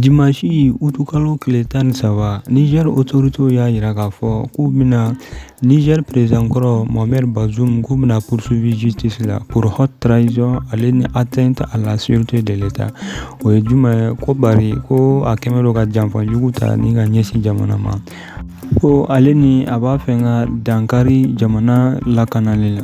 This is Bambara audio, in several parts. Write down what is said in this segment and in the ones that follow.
Dimanche août kalo tile tan ni saba Niger autorités y'a yira k'a fɔ k'u bɛna Niger président kɔrɔ Mohamed Bazoum k'u bɛna poursuivi justice la pour haute trahison ale ni atteinte à la sûreté de l'Etat o ye jumɛn ye ko bari ko a kɛlen don ka janfa jugu ta ni ka ɲɛsin jamana ma ko ale ni a b'a fɛ ka dankari jamana lakanali la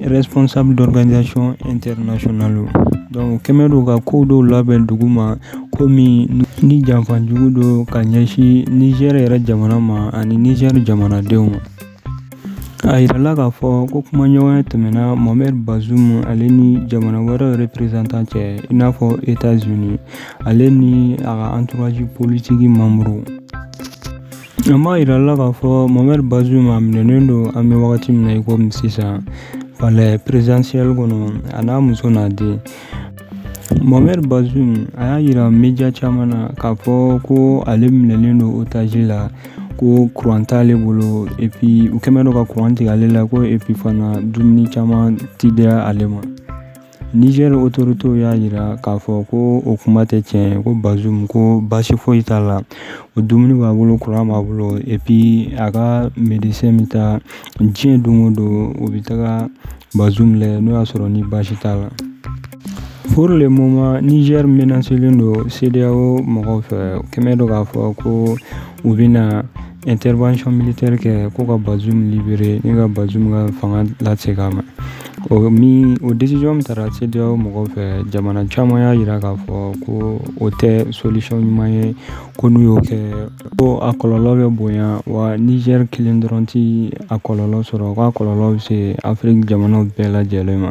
responsable d'organisation internationale donc kɛlen don ka ko dɔw labɛn dugu ma komi ni janfa jugu don ka ɲɛsin Niger yɛrɛ jamana ma ani Niger jamanadenw ma, a yirala k'a fɔ ko kumaɲɔgɔnya tɛmɛna Mohamed Bazoum ale ni jamana wɛrɛw représentant cɛ i n'a fɔ États-Unis ale ni a ka entourage politique membres An b'a yira la k'a fɔ Mohamed Bazoum a minɛnen don an bɛ wagati min na i komi sisan palais présidentiel kɔnɔ a n'a muso n'a den Mohamed Bazoum a y'a yira média caman na k'a fɔ ko ale minɛnen don otage la ko kuran t'ale bolo et puis u kɛlen don ka kuran tigɛ ale la ko et puis fana dumuni caman tɛ di ale ma Niger autorités y'a yira k'a fɔ ko o kuma tɛ tiɲɛ ye ko Bazoum ko basi foyi t'a la o dumuni b'a bolo kuran b'a bolo et puis a ka médecin bɛ taa diɲɛ don o don o bɛ taga Bazoum lajɛ n'o y'a sɔrɔ ni basi t'a la pour le moment Niger menacélen don CEDEAO mɔgɔw fɛ kɛlen don k'a fɔ ko u bɛ na intervention militaire kɛ ko ka Bazoum libéré ni ka Bazoum ka fanga lasegin a ma o min o décision min tara CEDEAO mɔgɔw fɛ jamana caman y'a jira k'a fɔ ko o tɛ solution ɲuman ye ko n'u y'o kɛ ko a kɔlɔlɔ bɛ bonya wa Niger kelen dɔrɔn ti a kɔlɔlɔ sɔrɔ ko a kɔlɔlɔ bɛ se Afrique jamanaw bɛɛ lajɛlen ma